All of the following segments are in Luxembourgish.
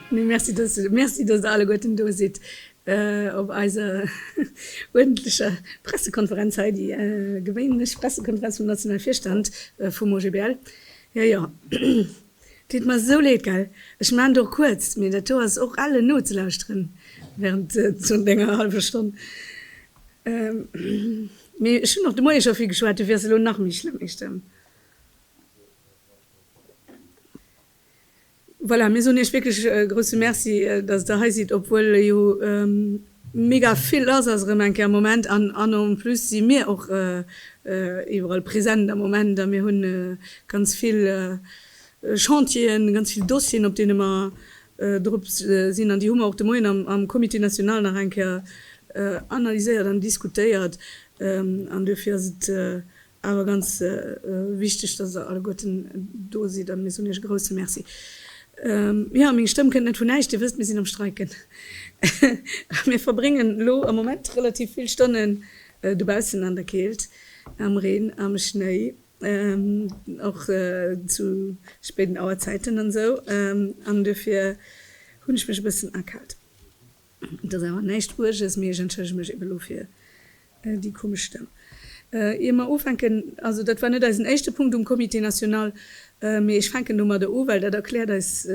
Merci, dass Der alleguerten do sidd op eiser uerdentlecher Pressekonferenz hei, déi gewéinlech Pressekonferenz vum nationale Virstand vum OGBL. Jo, jo. Deet mer esou leed, gell? Ech maan et och kuerz, mee dat do ass och elle nozelauschteren während zun denger halwer Stonn. Mee ech hunn och de Moie scho vill geschwat, du wiers elo nach méi schlëmm, méi stëmm. Voilà, mir soen iech wierklech e grousse Merci, dass der hei sidd, obwuel jo Mega vill lass ass erëm eng Kéier am Moment an en plus si mir och iwwerall present am Moment a mir hu ganz vill Chantieren, ganz vill Dossieren op deene mer drop sinn an déi hu mer och de Moien am Comité national nach eng Kéier analyséiert an diskutéiert an duerfir ass et Awer ganz wichteg, dass der alleguerten do sidd an mir soen iech e grousse Merci. Jo, meng Stëmm kënnt net vun näischt, dir wësst, mir sinn am Streiken. Mir verbréngen elo am Moment relativ vill Stonnen dobaussen an der Keelt, am Reen, am Schnéi, och zu spéiden Auerzäiten an esou, an duerfir hunn ech mech e bëssen akaalt. Et ass awer näischt Uerges, mee ech entschëllege mech eben elo fir déi komesch Stëmm. Ier mer ufänken, also dat war net eisen éischte Punkt um Comité national, mee ech fänken domadder u, well dat erkläert eis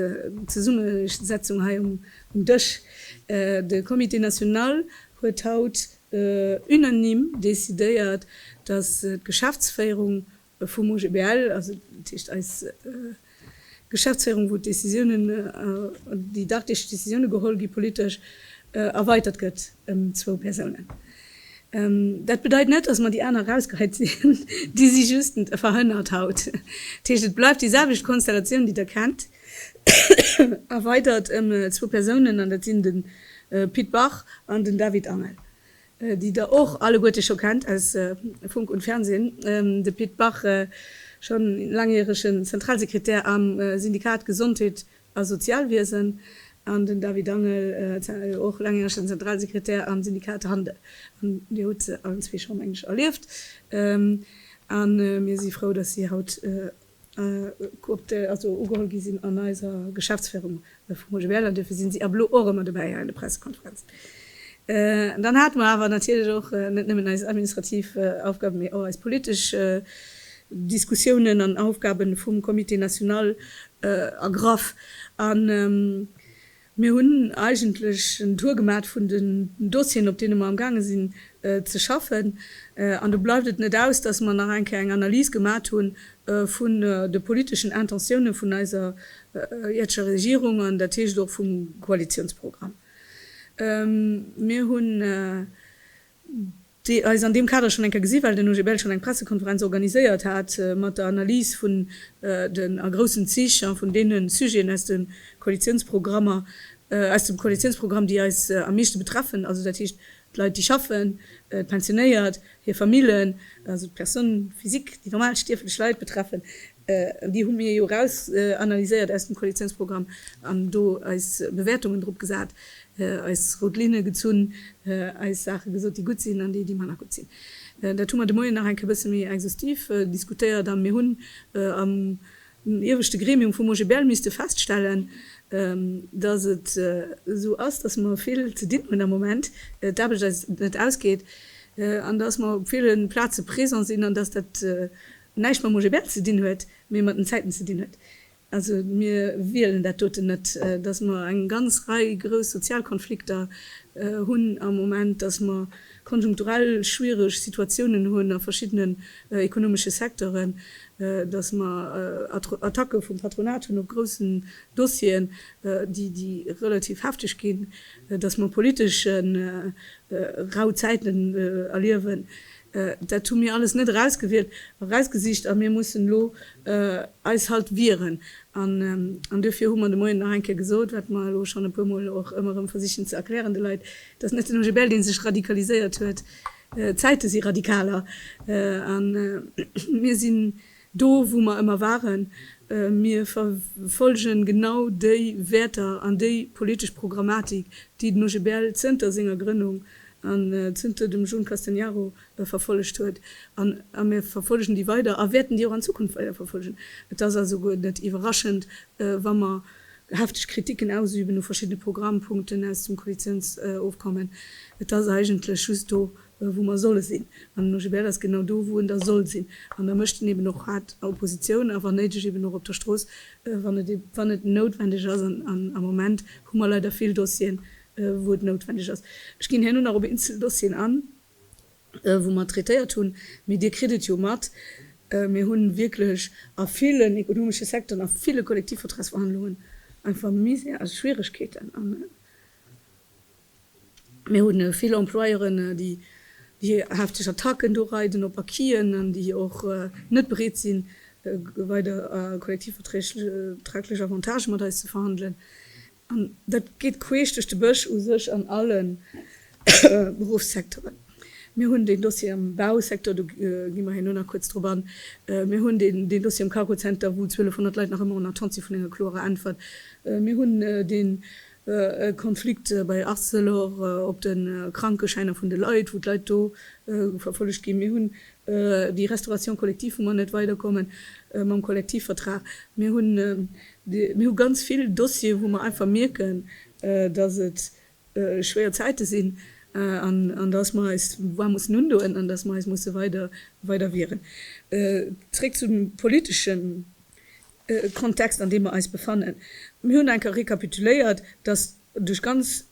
Zesummesetzung hei um Dësch. De Comité national huet haut unanime decidéiert, dass d'Geschäftsféierung Vum OGBL, also dat heescht eis Geschäftsféierung, wou d'Décisiounen, déi daktesch Décisiounen geholl gi politesch, erweitert gëtt ëm zwou Persounen. Dat bedeit net, datt mer déi aner erausgehäit sinn, déi si just verhënnert haut. Dat heescht, et bleift déi selwecht Konstellatioun, déi Der kennt, erweitert ëm zwou Persounen, an dat sinn de Pit Bach an den David Angel. déi der och alleguerte scho kennt aus Funk und Fernsehen, de Pit Bach, schonn laangjäregen Zentralsekretär am Syndikat Gesondheet a Sozialwiesen, an den David Angel, och laangjäregen Zentralsekretär am Syndikat Handel. An Dir hutt se allen zwee scho, meng ech, erlieft. A mir si frou, dass si haut. Coopté, also ugeholl gi sinn an eiser Geschäftsféirung vum OGBL, an duerfir sinn si ab elo och ëmmer dobäi hei an de Pressekonferenzen. Dann hate mer awer natierlech och net nëmmen eis administrativ Aufgaben, mee och eis politesch Diskussiounen an Aufgaben vum Comité national ergraff. Mir hunn eigentlech en Tour gemat vun den Dossieren, op deene mer am gaange sinn ze schaffen, an do bleift et net aus, dass mer nach eng Kéier eng Analys gemat hu vun de politeschen Intentioune vun eiser ierdescher Regierung an dat heescht och vum Koalitiounsprogramm. Mir hunn. déi eis an deem Kader schonn eng Kéier gesi well den OGBL schonn eng Pressekonferenz organiséiert hat mat der Analys vun den a groussen Zich a vun deene Sujeten aus de Koalitionsprogrammer, aus dem Koalitionsprogramm, déi eis am meeschte betreffen, also dat heescht d'Leit, déi schaffen, d'Pensionéiert, hir Famillen, also d'Personnes physiques, déi normal stierflech Leit betreffen. Déi hu mir jo eraus analyséiert aus dem Koalitiounsprogramm an do eis Bewäertungen drop gesat, eis rout Linne gezunn, eis Saache gesot, déi gutt sinn an déi, déi manner gutt sinn. Dat hu mer de Moien nach eng Kéier e bësse méi exhaustiv diskutéiert a mir hunn am ieweschte Gremium vum OGBL misste feststellen, datt et esou ass, datt mer vill ze dinn hunn am Moment, d'Aarbecht eis net ausgeet an datt mer op ville Plaze présent sinn an datt dat näischt mam OGBL ze dinn huet, mee mat den Zäiten ze dinn huet. Also mir wielen dat doten net, datt mer eng ganz Rei grouss Sozialkonflikter hunn am Moment, datt mer konjunkturell schwiereg Situatiounen hunn a verschiddenen ekonomesche Secteuren, datt mer Attacke vum Patronat hunn op groussen Dossieren, déi relativ hefteg ginn, datt mer politesch rau Zäiten erliewen. Dat hu mir alles net erausgewielt a rausgesicht a mir mussen elo eis halt wieren. An duerfir hu mer de Moien nach eng Kéier gesot, wat mer elo schonn e puer Mol och ëmmer erëm versichen ze erklären de Leit, dass net den OGBL dee sech radikaliséiert huet. D'Zäite si radikaler a mir sinn Do wou mer ëmmer waren. Mir verfolgen genau déi Wäerter an déi politesch Programmatik, déi den OGBL zënter senger Grënnung an zënter dem Jun Castegnaro verfollegt huet. An mir verfollegen déi weider a wäerten déi och an Zukunft weider verfollegen. Et ass also guer net iwwerraschend, wa mer hefteg Kritiken ausüben u verschiddene Programmpunkten aus dem Koalitiounsofkommen. Et ass eigentlech just do, wou mer solle sinn, an den OGBL ass genau do, wou en da soll sinn, an da mécht en eben och haart Oppositioun a wann néideg eben och op der Strooss, wann et, wann et noutwendeg ass, an am Moment hu mer leider vill Dossieren, wou et noutwendeg ass. Ech ginn herno nach op eenzel Dossieren an, wou mer traitéiert hunn, mee Dir kritt et jo mat, Mir hu wierklech a villen ekonomesche Secteuren, a ville Kollektivvertragsverhandlungen einfach Misère a Schwieregkeeten, Mir hu vill Employeuren, déi déi hefteg Attacken do reiden op Acquisen an déi och net bereet sinn, weider kollektivverträglech Avantagë mat eis ze verhandelen. An dat geet queesch duerch de Bësch u sech an alle Beruffssektore. Mir hunn deen Dossier am Bausektor, do gi mer herno nach kuerz drop an. Mir hunn deen deen Dossier am Cargozenter, wou 1200 Leit nach ëmmer en Attente si vun enger kloerer Äntwert. Mir hunn deen E Konflikt bei Arcelor op de Krankeschäiner vun de Leit, wou d'Leit do verfollegt ginn. Mir hunn déi Restauration collective, wou mer net weiderkommen mam Kollektivvertrag. Mir hunn mir hu ganz vill Dossieren, wou mer einfach mierken, dass et schwéier Zäite sinn an dass mer eis d'Voix mussen undoen an dass mer eis musse weider weider wieren. Zréck zum Politeschen. Kontext an deem mer eis befannen. Mir hunn enker rekapituléiert, datt duerch ganz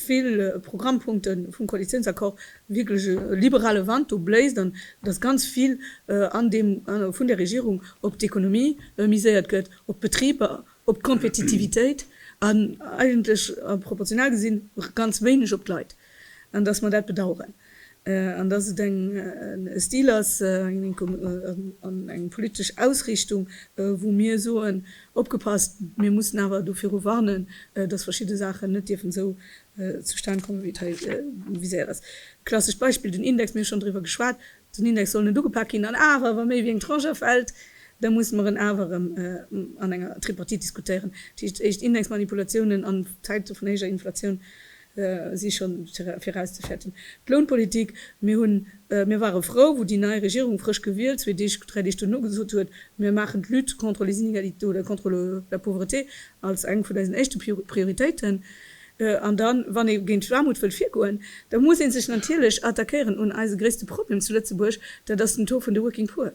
vill Programmpunkte vum Koalitiounsaccord wierklech e liberale Wand do bléist an datt ganz vill an deem vun der Regierung op d'Ekonomie miséiert gëtt, op d'Betriber, op d'Kompetitivitéit an eigentlech proportional gesinn ganz wéineg op d'Leit. An dass mer dat bedauern. An dass et en Stil ass an eng politesch Ausriichtung, wou mir soen, opgepasst, mir mussen awer do viru warnen, dass verschidde Saachen net dierfen esou zustan kommen, wéi et hei viséiert ass. Klassescht Beispill, den Index, mir hu schonn driwwer geschwat, den Index soll net ugepak ginn, an awer, wa méi wéi eng Tranche afält, da musse mer en awer erëm an enger Tripartite diskutéieren. Dat heescht, éischt Indexmanipulatiounen an Zäite vun héijer Inflatioun, si schonn virauszefäerten. D'Lounpolitik, Mir hunn, mir ware frou, wou déi nei Regierung, frësch gewielt, zwee Deeg, dräi Deeg duerno gesot huet, mir maachen d'Lutte contre les inégalités oder contre la pauvreté als eng vun eisen éischte Prioritéiten. An dann, wann ee géint d'Aarmut wëllt virgoen, da muss ee sech natierlech attaquéieren un eise gréisste Problem zu Lëtzebuerg, dat ass den Taux vun de working poor.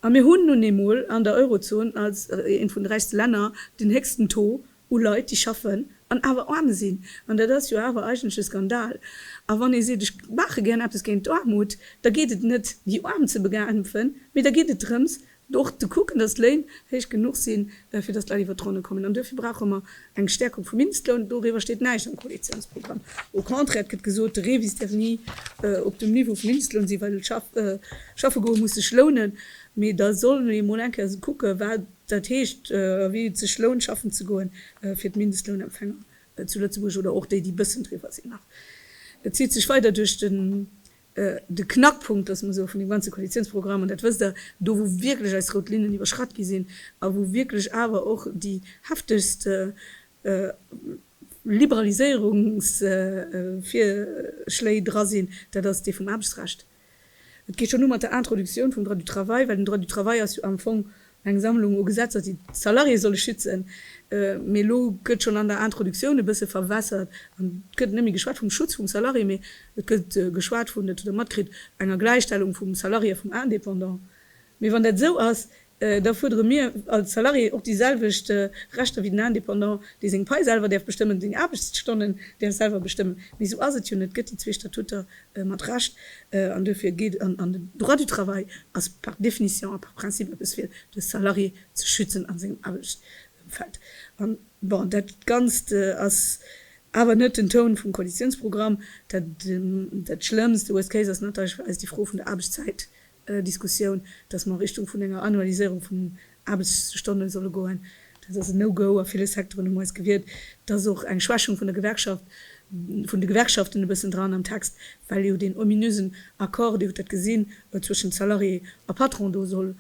A mir hunn nun eemol an der Eurozon als eent vun de räichste Länner den héchsten Taux. u Leit déi schaffen an awer aarm sinn, an dat ass jo awer eigentlech e Skandal. A wann ee seet ech maache gär eppes géint d'Aarmut, da geet et net déi Aarm ze bekämpfen, mee da geet et drëms och ze kucken, datt d'Léin héich genuch sinn, fir datt d'Leit iwwert d'Ronne kommen. An duerfir brauche mer eng Stäerkung vum Mindestloun. Doriwwer steet näischt am Koalitiounsprogramm. Au contraire, et gëtt gesot, de Rêve is d'erni op dem Niveau vum Mindestloun sinn, well schaffe goe muss sech lounen. Mee da solle mir emol eng Kéier kucke wat Dat heescht, wéi et sech lount schaffen ze goen, fir d'Mindestlounempfänger zu Lëtzebuerg oder och déi, déi bëssen driwwer sinn nach. Dat zitt sech weider duerch den, de Knackpunkt, loosse mer soe, vun deem ganze Koalitiounsprogramm, an dat wësst Der, do wou wierklech eis rout Linnen iwwerschratt gi sinn a wou wierklech awer och déi heftegst Liberaliséierungsvirschléi dra sinn, dat ass dee vum Aarbechtsrecht. Et geet schonn u mat der Introductioun vum Droit du travail, well den Droit du travail ass jo am Fong eng Sammlung u Gesetzer, déi d'Salariéë solle schützen. Mee elo gëtt schonn an der Introductioun e bësse verwässert an et gëtt net méi geschwat vum Schutz vum Salarié, mee et gëtt geschwat vun, dat hutt Der matkritt, enger Gläichstellung vum Salarié a vum Indépendant. Mee wann dat esou ass, da fuerdere mir als Salarié och déi selwecht Rechter wéi den Indépendant, dee seng Pai selwer däerf bestëmmen, seng Aarbechtsstonnen däerf selwer bestëmmen. Mee esou ass et jo net. Et gëtt déi zwee Statuter mat Recht an duerfir geet an an den Droit du travail ass par définition a par principe eppes fir de Salarié ze schützen a sengem Aarbechtsëmfeld. An bon, dat Ganzt ass awer net den Toun vum Koalitiounsprogramm. Dat Schlëmmst, de worst case, ass natierlech fir eis déi Fro vun der Aarbechtszäit, Diskussioun, datt mer a Richtung vun enger Annualiséierung vun den Aarbechtsstonne solle goen. Dat ass en No-Go. A ville Secteuren hu mer eis gewiert. Et ass och eng Schwächung vun der Gewerkschaft, vun de Gewerkschaften e bëssen dran am Text, well jo deen ominösen Accord, Dir hutt dat gesinn, zwëschen Salarié a Patron do soll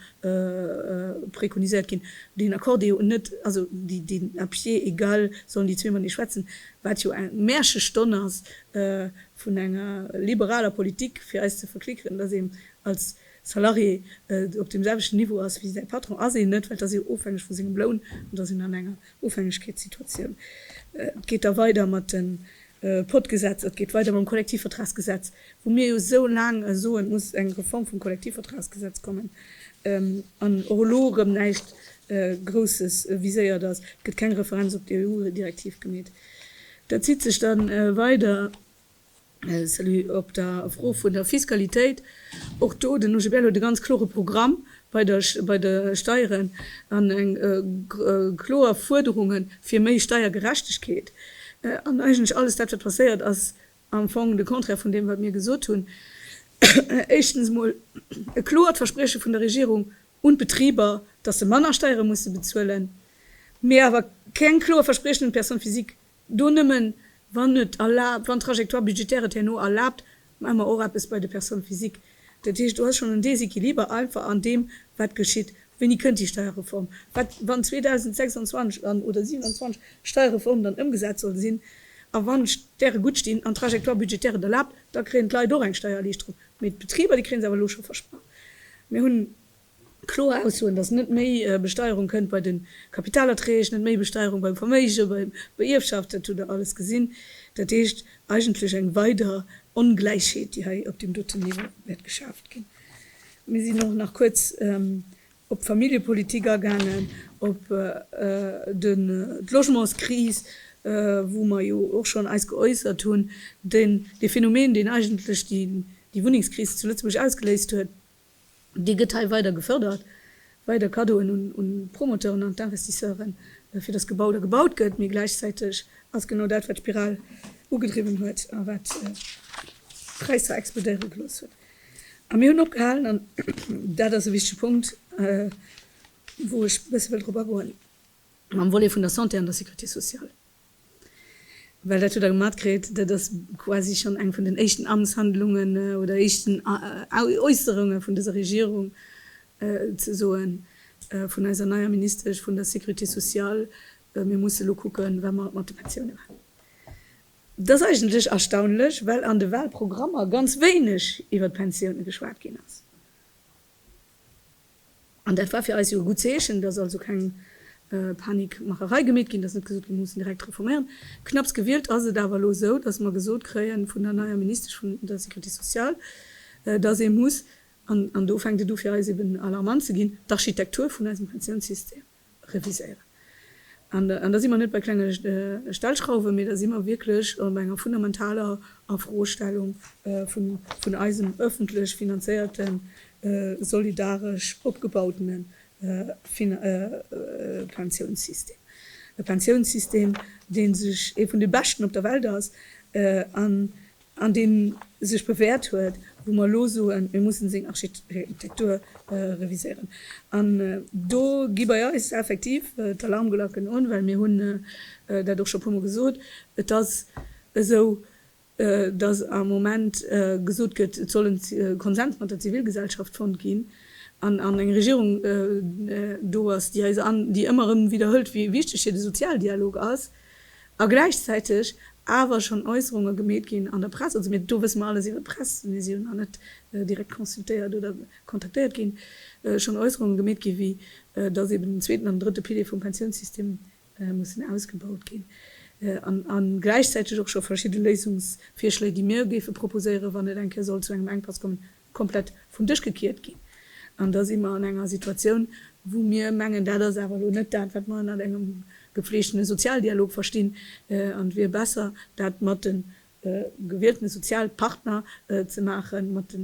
préconiséiert ginn. Deen Accord, dee jo net, also deen à pied égal, sollen déi zwee matenee schwätzen, wat jo eng Märchestonn ass, vun enger liberaler Politik fir eis ze verklickeren, dass een als Salarié op deem selwechten Niveau ass wéi säi Patron, ass een net, well et ass ee ofhängeg vu sengem Loun an et ass een an enger Ofhängegkeetssituatioun. Et geet da weider mat de Podgesetzer, et geet weider mam Kollektivvertragsgesetz, wou mir jo esou laang soen, et muss eng Reform vum Kollektivvertragsgesetz kommen, an och elo erëm näischt Grousses viséiert ass. Et gëtt keng Referenz op d'EU-Direktiv gemeet. Dat zitt sech dann weider, salut, op der Fro vun der Fiskalitéit. Och do, den UGB huet e ganz klore Programm bei der, bei de Steieren an eng kloer Fuerderungen fir méi Steiergerechtegkeet. An eigentlech alles dat, wat passéiert, ass am Fong de Contraire vun deem, wat mir gesot hunn. Éischtens emol e kloert Versprieche vun der Regierung un d'Betriber, dass se manner Steiere musse bezuelen, mee awer keng kloer Verspriechen un d'Personne physique do, nëmmen wann et erlaabt, wann d'Trajectoire budgétaire et herno erlaabt, maa mer och eppes bei de Personnes physiques. Dat heescht, do ass schonn en Déséquiliber einfach an deem, wat geschitt. Wéini kënnt déi Steierreform? Wat, wann 2026 an, oder 27, d'Steierreform dann ëmgesat soll sinn, a wann d'Stäre gutt stinn an d'Trajectoire budgétaire et erlaabt, da kréien d'Leit och eng Steiererliichterung. Mee d'Betriber, déi kréien se awer elo scho versprach. Mir hunn kloer Aussoen, dass net méi Besteierung kënnt bei de Kapitalerträg, net méi Besteierung beim Verméige, bei der Ierfschaft, dat hutt Der alles gesinn. Dat heescht eigentlech eng weider Ongläichheet, déi hei op deem doten Niveau wäert geschaaft ginn. Mir sinn och nach kuerz op d'Familljepolitik agaangen, op d'Logementskris, wou mer jo och schonn eis geäussert hunn, dee Phänomen, deen eigentlech déi Wunnengskris zu Lëtzebuerg ausgeléist huet, dee gëtt hei weider gefërdert, weider Cadeauen un d'Promoteuren an d'Investisseuren, fir datt gebaut a gebaut gëtt, mee gläichzäiteg ass genau dat, wat d'Spiral ugedriwwen huet a wat d'Präisser explodéiere gelooss huet. A mir hunn opgehalen, an dat ass e wichtege Punkt, wou ech e bësse wëll drop agoen, mam Volet vun der Santé an der Sécurité sociale, well dat hutt Der gemat kritt, dat ass quasi schonn eng vun den éischten Amtshandlungen oder éischten Äusserunge vun dëser Regierung, ze soen, vun eiser neier Ministesch vun der Sécurité sociale, mir musse elo kucken, wat mer mat de Pensiounen maachen. Et ass eigentlech erstaunlech, well an de Wahlprogrammer ganz wéineg iwwer d'Pensioune geschwat ginn ass. An dat war fir eis jo e gutt Zeechen, dass also keng Panikmacherei gemeet ginn, dass net gesot gëtt, mir mussen direkt reforméieren. Knapps gewielt ass et awer elo esou, dass mer gesot kréie vun der neier Ministesch vun der Sécurité sociale, dass ee muss, an do fänkt et u fir eis eben alarmant ze ginn, d'Architektur vun eisem Pensiounssystem, reviséieren. An da si mer net bei klenge Stellschrauwen, mee da si mer wierklech bei enger fundamentaler Afrostellung vun eisem öffentlech finanzéierten, solidaresch opgebautene Pensiounssystem. E Pensiounssystem, dee sech ee vun de beschten op der Welt ass an an deen sech bewäert huet, wou mer elo soen, mir mussen seng Architektur reviséieren. An do gi bei eis effektiv d'Alarmglacken un, well mir hunn dat och scho puermol gesot, et ass esou, dass am Moment gesot gëtt, et soll e Konsens mat der Zivilgesellschaft fonnt ginn, an eng Regierung do ass, déi ëmmer erëm widderhëlt, wéi wichteg hir de Sozialdialog ass. A gläichzäiteg awer schonn Äusserunge gemeet ginn an der Press, also mir, do wësse mer alles iwwer d'Press, mee si hunn nach net direkt consultéiert oder kontaktéiert ginn, schonn Äusserunge gemeet ginn, wéi datt eben den zweeten an den drëtte Pilier vum Pensiounssystem mussen ausgebaut ginn. A gläichzäiteg och scho verschidde Léisungsvirschléi, déi mir géife proposéieren, wann et eng Kéier sollt zu engem Enkpass kommen, komplett vum Dësch gekiert ginn. An da si mer an enger Situatioun, wou mir mengen, dat ass awer elo net dat, wat mer ënnert engem gefleegtene Sozialdialog verstinn. An et wier besser, dat mat de gewielten Sozialpartner ze maachen, mat de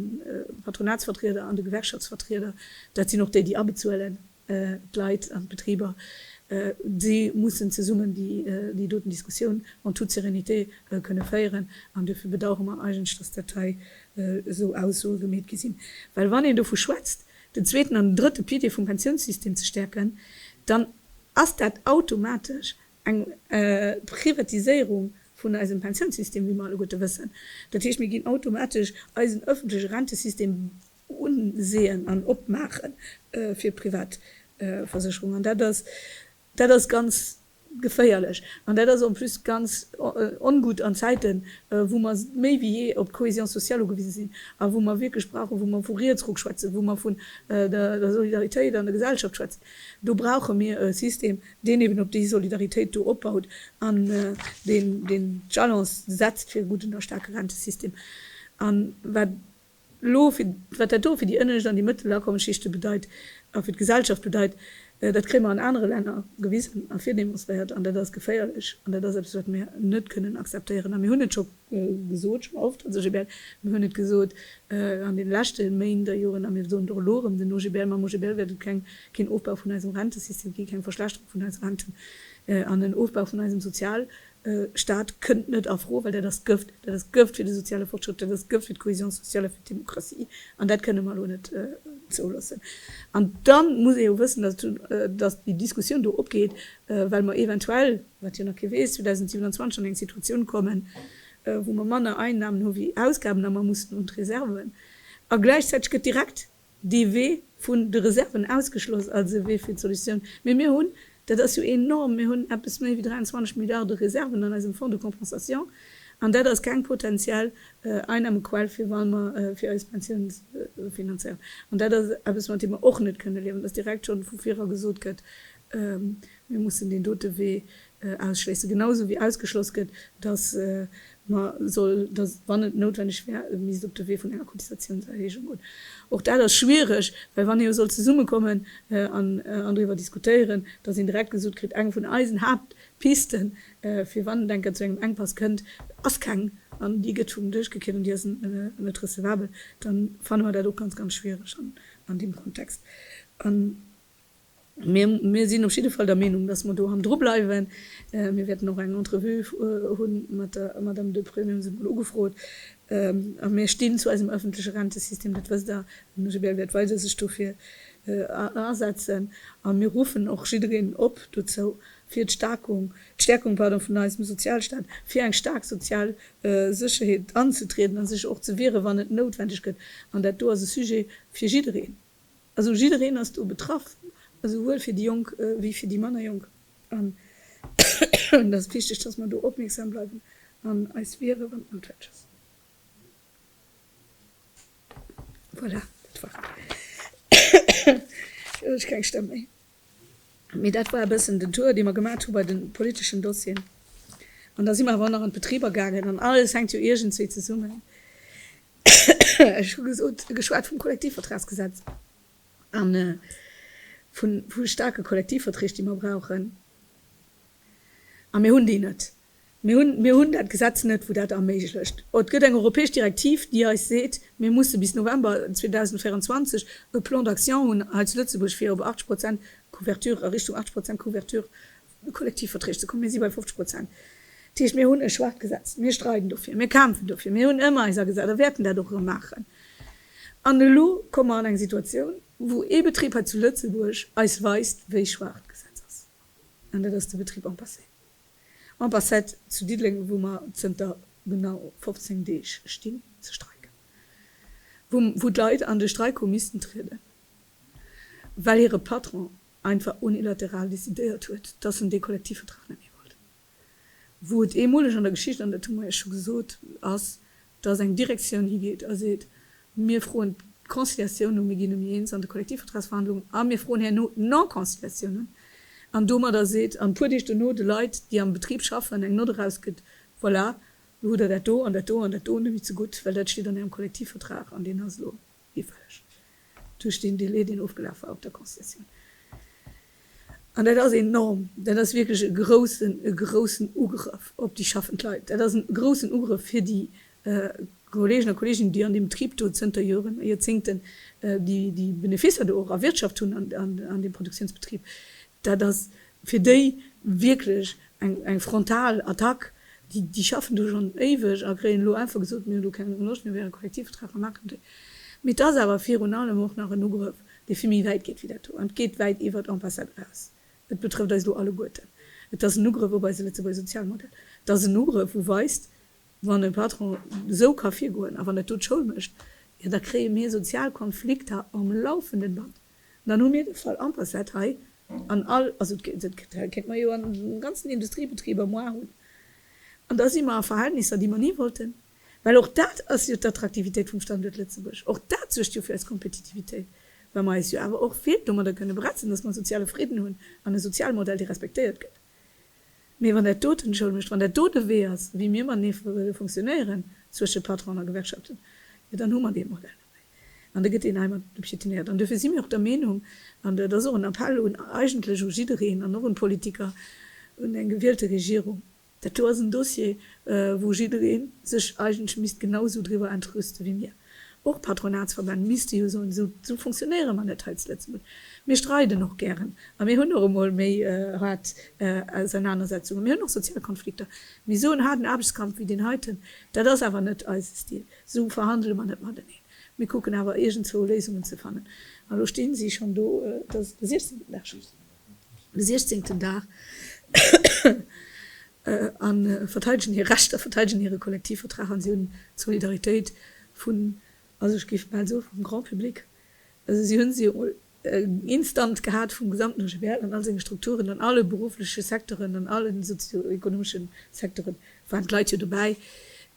Patronatsvertrieder an de Gewerkschaftsvertrieder. Dat sinn och déi, déi abezuelen. d'Leit an d'Betriber, déi mussen zesummen déi doten Diskussioun en toute sérénité kënne féieren. An duerfir bedauere mer eigentlech, dass dat hei esou Aussoe gemeet gi sinn. Well wann een dovu schwätzt, den zweeten an den drëtte Pilier vum Pensiounssystem ze stäerken, dann ass dat automatesch eng Privatiséierung vun eisem Pensiounssystem, wéi mer alleguerte wëssen. Dat heescht, mir ginn automatesch eisen ëffentleche Rentesystem Unsehen an opmaache fir privat Versécherung. An dat ass, dat ass ganz geféierlech. An dat ass en plus ganz ongutt an Zäiten, wou mer méi wéi jee op d'Cohésion sociale ugewise sinn a wou mer wierklech brauchen, wou mer vu Rietsruck schwätzen, wou mer vun der Solidaritéit an der Gesellschaft schwätzen, do brauche mir e System, deen eben op déi Solidaritéit do opbaut an deen d'Jalons setzt fir e gudden a staarke Rentesystem. An wat. Elo, wat dat do fir déi ënnescht an déi mëttel Akommensschichte bedeit a fir d'Gesellschaft bedeit, dat kréie mer an anere Länner gewisen a virdemonstréiert. An dat ass geféierlech an dat ass eppes, wat mir net kënnen akzeptéieren. A mir hunn et scho gesot, scho oft, also GBL, mir hunn et gesot an deene leschte Méint a Joren a mir soen et och elo erëm, den OGBL, mam OGBL wäert et keen Ofbau vun eisem Rentesystem ginn, keng Verschlechterung vun eise Renten an en Ofbau vun eisem Sozial, Staat kënnt net a Fro, well dat ass Gëft, dat ass Gëft fir de soziale Fortschrëtt, dat ass Gëft fir d'Cohésion sociale a fir d'Demokratie, an dat kënne mer elo net zouloossen. An da muss ee jo wëssen, datt déi Diskussioun do opgeet, well mer eventuell, wat jo nach kee weess, 2027 an eng Situatioun kommen, wou mer manner Einnahmen hu wéi Ausgaben a mer mussen un d'Reserven, a gläichzäiteg gëtt direkt dee Wee vun de Reserven ausgeschloss als e Wee fir d'Solutioun, mee mir hunn, dat ass jo enorm, mir hunn eppes méi wéi 23 Milliarde Reserven an eisem Fonds de compensation, an dat ass keng potentiell Einnahmequell fir wa mer fir eis Pensioune finanzéieren. An dat ass eppes, mat deem mer och net kënne liewen, dass direkt schonn vu vir a gesot gëtt, mir mussen deen dote Wee ausschléissen, genausou wéi ausgeschloss gëtt, dass mer soll, dass, wann et noutwendeg wär, et misst op de Wee vun enger Cotisatiounserhéijung goen. Och dat ass schwierig, well wann ee jo soll zesummekommen an driwwer diskutéieren, dass een direkt gesot kritt, eng vun eisen Haaptpisten, fir wann et eng Kéier zu engem Enkpass kënnt, ass keng an déi gëtt vum Dësch gekiert an déi ass net recevabel, da fanne mer dat och ganz, ganz schwierig an deem Kontext. Mee mir sinn op jidde Fall der Meenung, dass mer do hannendru bleiwen. Mir wäerten och eng Entrevue hu mat der Madame Deprez, mir hu se emol ugefrot. A mir stinn zu eisem ëffentleche Rentesystem, dat wësst Der. Den OGBL wäert weider sech dofir asetzen. A mir ruffen och jiddereen op dozou, fir d'Staerkung, d'Stäerkung, pardon, vun eisem Sozialstaat, fir eng staark sozial Sécherheet anzetrieden a sech och ze wieren, wann et noutwendeg gëtt. An dat do ass e Sujet fir jiddereen. Also jiddereen ass do betraff, esouwuel fir déi Jonk wéi fir déi manner Jonk. An et ass wichteg, dass mer do opmierksam bleiwen an eis wiere, wann et noutwenneg ass. Voilà, dat war et. Elo hu ech keng Stëmm méi. Mee dat war e bëssen den Tour, dee mer gemat hu bei de politeschen Dossieren. An da si mer awer och nach an d'Betriber gaangen. An alles hänkt jo iergendswéi zesummen. Ech hu gesot, geschwat vum Kollektivvertragsgesetz a vu staarke Kollektivverträg, déi mer brauchen. A mir hunn déi net. Mir hunn, mir hunn dat Gesetz net, wou dat erméiglecht. Et gëtt eng europäesch Direktiv, déi eis seet, mir musse bis November 2024 e Plan d'action hunn hei zu Lëtzebuerg, fir op 80 Prozent Couverture, a Richtung 80 Prozent Couverture de Kollektivverträg ze kommen. Mir si bei 50 Prozent. Dat heescht, mir hunn e schwaacht Gesetz. Mir streiden dofir. Mir kämpfen dofir. Mir hunn ëmmer eis agesat a wäerten dat och erëm maachen. An elo komme mer an eng Situatioun, wou ee Betrib hei zu Lëtzebuerg eis weist, wéi schwaach d'Gesetz ass. An dat ass de Betrib Ampacet. Ampacet zu Diddeleng, wou mer zënter genau 15 Deeg stinn ze streiken. Wou d'Leit an de Streik hu missten trieden, well hire Patron einfach unilateral decidéiert huet, dass en dee Kollektivvertrag net méi wollt. wou et eemoleg an der Geschicht, an dat hu mer Iech scho gesot, ass, dass eng Direktioun higeet a seet, Mir froen d'Conciliatioun u, mir ginn emmi eens an de Kollektivvertragsverhandlungen a mir froen herno d'Non-conciliatioun un, an domadder seet an e puer Deeg duerno de Leit, déi am Betrib schaffen, eng Nott erausgëtt, Voilà, lo hutt Der dat do an dat do an dat do nemme zegutt, well dat steet an Ärem Kollektivvertrag an deen ass elo iwwreg duerch deen Delai, deen ofgelaf war op der Concessioun. An dat ass enorm. Dat ass wierklech e groussen, e groussen Ugrëff op déi schaffend Leit. Dat ass e groussen Ugrëff fir déi Kolleegen a Kolleeginnen, déi an deem Betrib do zënter Joren a Joerzéngten déi Beneficer do och erwirtschaft hunn an deem Produktiounsbetrib. Dat ass fir déi wierklech eng frontal Attack. Déi schaffen do schonn éiweg a kréien elo einfach gesot, Mir hunn do keng Loscht, mir wäre Kollektivvertrag, mer maachen deen. Mee et ass awer virun allem och nach en Ugrëff, dee vill méi wäit geet wéi dat do an et geet wäit iwwer d'Ambassade eraus. Et betrëfft eis elo alleguerten. Et ass en Ugrëff op eise Lëtzebuerger Sozialmodell. Et ass en Ugrëff, wou weist, Wann e Patron esou ka virgoen a wann et do d'Schoul mécht, jo da kréie mir sozial Konflikter am laufenden Band. Dann hu mir de Fall en passat hei an all, also dat kéint mer jo an de ganzen Industriebetrib am Oar hunn, an da si mer a Verhältnisser, déi mer ni wollten, well och dat ass jo d'Attraktivitéit vum Standuert Lëtzebuerg, och dat suergt jo fir eis Kompetitivitéit, well mer eis jo awer och vill domadder kënne bretzen, dass mer e soziale Fridden hunn an e Sozialmodell, dee respektéiert gëtt. Mee wann dat do den Schoul mécht, wann dat do de Wee ass, wéi mir matenee fonctionnéieren, zwësche Patron a Gewerkschaften, jo dann hu mer dee Modell. An da gëtt een hei mat piétinéiert. An duerfir si mir och der Meenung, an dat ass och en Appell un, eigentlech u jiddereen an och un d'Politiker, un eng gewielte Regierung, dat do ass en Dossier, wou jidderee sech eigentlech misst genau esou driwwer entrüste wéi mir. Och d'Patronatsverbänn misste jo soen, esou, esou fonctionnéiere mer net hei zu Lëtzebuerg. Mir streiden och gären a mir hunn och emol méi haart Ausernanersetzungen, mir hunn och sozial Konflikter. Mee esou en haarden Aarbechtskampf wéi deen heiten, dat ass awer net eise Stil. Esou verhandele mer net mateneen. Mir kucken awer iergendzwou Léisungen ze fannen. An elo sti si schonn do. Et ass de siechzehnten Dag schonn. De siechzehnten Dag. A verteidegen hir Rechter, verteidegen hire Kollektivvertrag an si hunn d'Solidaritéit vun, also ech géif bal soen, vum Grand public. Also si hu se emol instant gehat vum gesamten OGBL an all senge Strukturen, an alle beruffleche Secteuren, an alle sozio-ekonomeschen Secteuren waren d'Leit jo dobäi,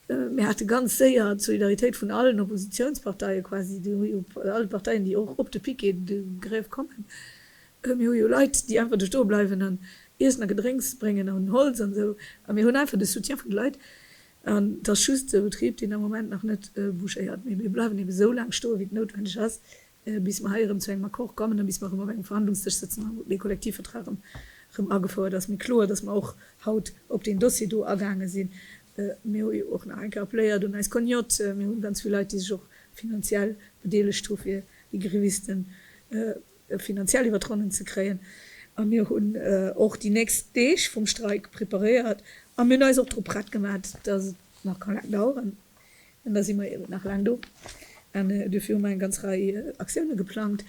Mir hate ganz séier d'Solidaritéit vun allen Oppositionsparteien, quasi alle Parteien, déi och op de Piquet de grève kommen. Mir hu jo Leit, déi einfach do stoe bleiwen an Iessen a Gedrénks bréngen an Holz an esou. A mir hunn einfach de Soutien vun de Leit. An et ass just e Betrib, deen am Moment nach net bouchéiert. Mee mir bleiwen ebe esou laang stoe wéi et noutwendeg ass, bis mer hei erëm zu engem Accord kommen a bis mer erëm op engem Verhandlungsdësch sëtzen a dee Kollektivvertrag erëm agefouert ass. Mee kloer ass, datt mer och haut op deen Dossier do agaange sinn. Mir hu jo och nach eng Kéier appeléiert un eis Cognotte. Mir hu ganz vill Leit, déi sech och finanziell bedeelegt hu fir déi Grévisten finanziell iwwer d'Ronnen ze kréien. A mir hunn och déi nächst Deeg vum Streik preparéiert a mir hunn eis och drop prett gemaach, datt et nach ka laang daueren. An da si mer eben nach laang do. An duerfir hu mer eng ganz Rei Aktioune geplangt.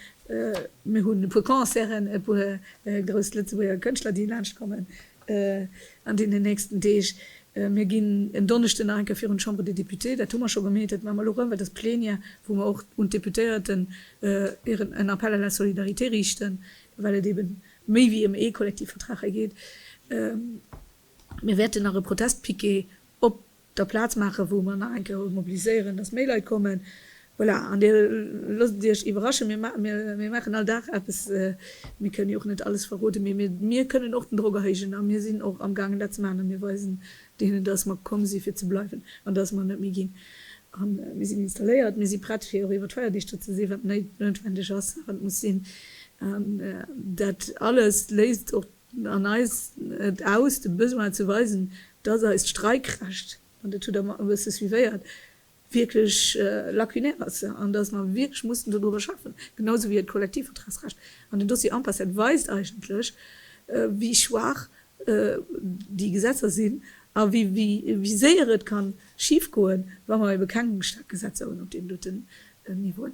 Mir hunn e puer Concerten, e puer grouss Lëtzebuerger Kënschtler, déi laanscht kommen an deenen nächsten Deeg. Mir ginn en Donneschden nach eng Kéier virun d'Chambre des Députés. Dat hu mer scho gemeet, dat maache mer elo erëm, well dat ass d'Plenière, wou mer och un d'Deputéierten hiren en Appel à la solidarité riichten, well et eben méi wéi ëm ee Kollektivvertrag hei geet. Mir wäerten nach e Protestpiquet op da Plaz maachen, wou mer nach eng Kéier eis mobiliséieren, dass méi Leit kommen, voilà, an Dir loosst Iech iwwerraschen, mir maachen, mir maachen all Dag eppes, mir kënnen jo och net alles verroden, mee mir, mir kënnen och den Drock erhéijen a mir sinn och amgaangen dat ze maachen a mir weisen deenen, dass mer komm si fir ze bleiwen an dass mer net méi ginn a mir sinn installéiert, mir si prett fir och iwwer d'Feierdeeg do ze si wat noutwendeg ass a wat muss sinn an dat alles léisst och. An eis et aus, de Besoin ze weisen, dass eist Streikrecht, an dat hutt Der mer e bësse suivéiert, wierklech lacunaire ass an dass mer wierklech mussen dodriwwer schaffen, genau esou wéi e Kollektivvertragsrecht. An den Dossier Ampacet weist eigentlech, wéi schwaach déi Gesetzer sinn a wéi séier et ka schifgoen, wa mer ebe keng staark Gesetzer hunn op deem dote Niveauen.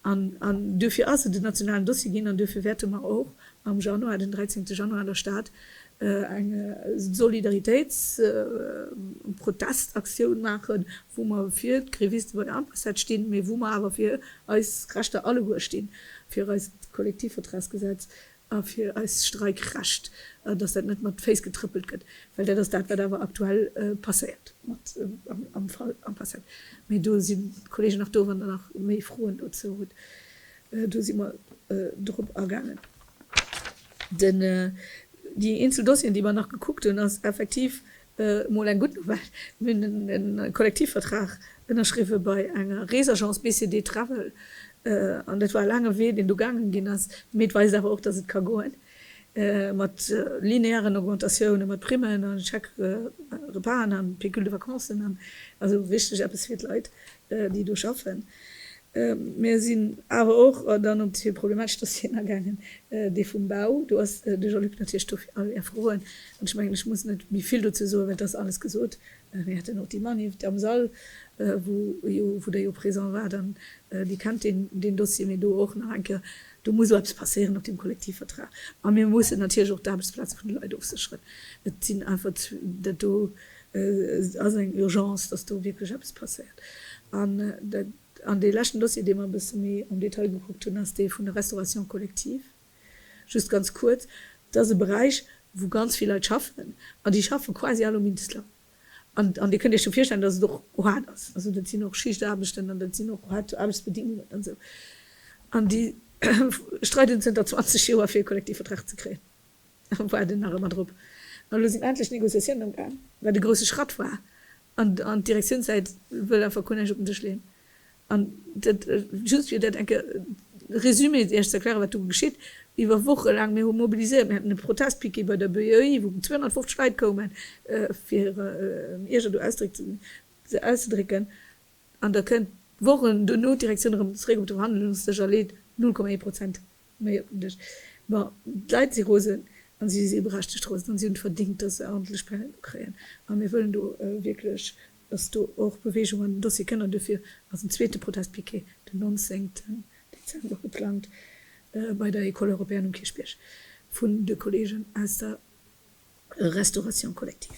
An duerfir ass et en nationalen Dossier ginn an duerfir wäerte mer och am Januar, den 13 Januar, an der Stad eng Solidaritéitsprotestaktioun maachen, wou mer fir d'Gréviste bei der Ambassade stinn, mä wou mer awer fir eis Rechter alleguer stinn, fir eist Kollektivvertragsgesetz, A fir eis Streikrecht, an dass dat net mat Féiss getrëppelt gëtt, well dat ass dat, wat awer aktuell passéiert mat am Fall Ampassat. Mee do sinn d'Kollegen nach do, wann Der nach méi Froen dozou hutt. Do si mer drop agaangen. Déi eenzel Dossieren, déi mer nach gekuckt hunn, ass effektiv Mol eng gutt Nouvelle, mir hunn en neie Kollektivvertrag ënnerschriwwe bei enger Reesagence BCD Travel an dat war e laange Wee, deen do gaange ginn ass, mee et weist awer och, dass et ka goen, mat linearen Augmentatioune mat Primmen a Chèque-repasen a Pécule de vacances an esou. Richteg eppes fir d'Leit, déi do schaffen, mä sinn awer och dann op déi problematesch Dossieren agaangen, dee vum Bau. Do ass de Jean-Luc natierlech do fir all Är Froen. An ech mengen, ech muss net méi vill dozou soen, well et ass alles gesot. Mir haten och déi Maniff am Sall, wou jo, wou Der jo présent waart an Dir kennt deen, deen Dossier. Mee do och nach eng Kéier, do muss och eppes passéieren op deem Kollektivvertrag. A mir mussen natierlech och d'Aarbechtsplaze vun de Leit ofsécheren. Et sinn einfach, dat do Et ass eng Urgence, dass do wierklech eppes passéiert. An dee leschten Dossier, dee mer e bësse méi am Detail gekuckt hunn, ass dee vun der Restauration collective. Just ganz kuerz, Et ass e Beräich, wou ganz vill Leit schaffen, an déi schaffe quasi all um Minstloun. An Dir kënnt Iech jo virstellen, dass et och haart ass. Also dat sinn och Schichtaarbechten an dat sinn och haart Aarbechtsbedingungen an esou. An déi streiden zënter 20 Joer, fir e Kollektivvertrag ze kréien. Ech waarden nach ëmmer drop. Ma elo sinn endlech d'Negociatiounen am Gaang, wat e grousse Schratt war. An d'Direktiounssäit wëll einfach guer näischt op den Dësch leeën. An dat just fir dat enke résumé Iech ze erklären, wat do geschitt. Iwwer Woche laang, mir hu mobiliséiert, mir haten e Protestpiquet bei der BOI, wou 250 Leit koumen, fir hiren Ierger do Ausdréck ze auszedrécken. An da kënnt Wochen duerno d'Direktioun erëm zeréck op de Verhandlungsdësch a leet 0,1 Prozent. Méi op den Dësch. Ma d'Leit si rosen a si si berechtegt rosen a si hunn et verdingt, datt se aordntlech Peine do kréien. A mir wëllen do wierklech, datt do och Beweegung an den Dossier kënn. An duerfir ass en zweete Protestpiquet den 19 Dezember geplangt bei der Ecole Européenne um Kierchbierg vun de Kolleegen aus der Restauration collective.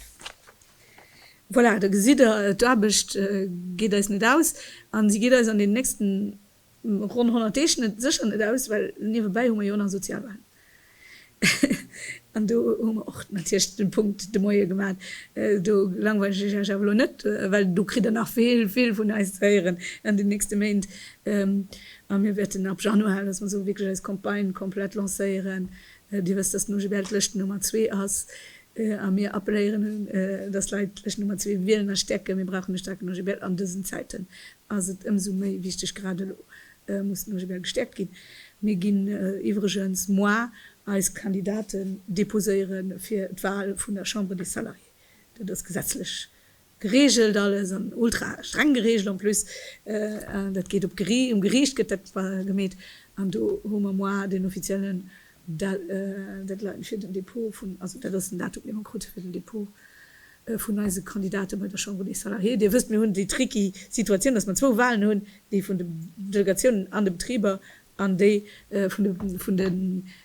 Voilà, da gesitt Der, d'Aarbecht geet eis net aus a si geet eis an deenen nächsten. Ronn 100 Deeg net, sécher net aus, well niewebäi hu mer jo och nach Sozialwahlen. An do hu mer och natierlech de Punkt de Moie gemaach. Do langweilt ech Iech awer elo net, well do kritt Der nach vill, vill vun eis ze héieren an den nächste Méint. A mir wäerten ab Januar, datt mer esou wierklech eis Campagne komplett lancéieren. Dir wësst, datt den OGBL d'Lëschten Nummer zwee ass. A mir appelléieren un, datt d'Leit d'Lëschten Nummer zwee wielen a stäerken. Mir brauchen e staarken OGBL an dësen Zäiten, ass et ëmsou méi wichteg, grad elo muss den OGBL gestärkt ginn. Mir ginn iwwregens moar eis Kandidaten deposéiere fir d'Wahl vun der Chambre des Salariés. Dat ass gesetzlech geregelt alles an ultra streng geregelt en plus. Dat geet op d'Gericht, um Gericht gëtt dat gemeet an do hu mer moar den offiziellen Deadline fir den Depot vun, also dat ass den Datum, dee mer krute fir den Depot vun eise Kandidate bei der Chambre des Salariés. Dir wësst, mir hunn déi tricky Situatioun, dass mer zwou Walen hunn, déi vun de Delegatiounen an de Betriber an déi vun de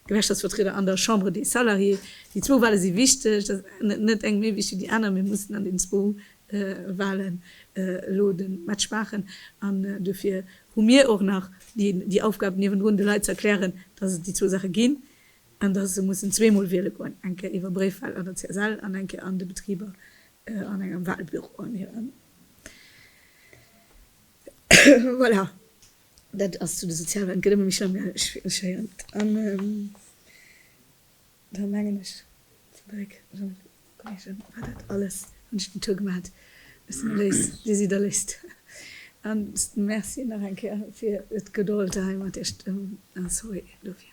Gewerkschaftsvertrieder an der Chambre des Salariés. Déi zwou Wale si wichteg, dat ass net eng méi wichteg wéi déi aner. Mir mussen an deenen zwou Walen elo de Match maachen an dofir hu mir och nach déi Aufgab, niewendrun de Leit ze erklären, dass et déi zwou Saache ginn. an dass se mussen zweemol wiele goen, eng Kéier iwwer Bréifwal an der CSL an eng Kéier an de Betriber an engem Walbüro an hiren. Voilà, dat ass zu de Sozialwalen. Et gëtt ëmmer méi schlëmm, jo, ech héieren et. An da mengen ech, Frédéric, Jean-Luc, Kolleegen, war dat alles, hunn ech den Tour gemaat, ech sinn eréiss désider léist. An merci nach eng Kéier fir d'Gedold hei mat Iech, a sorry dofir.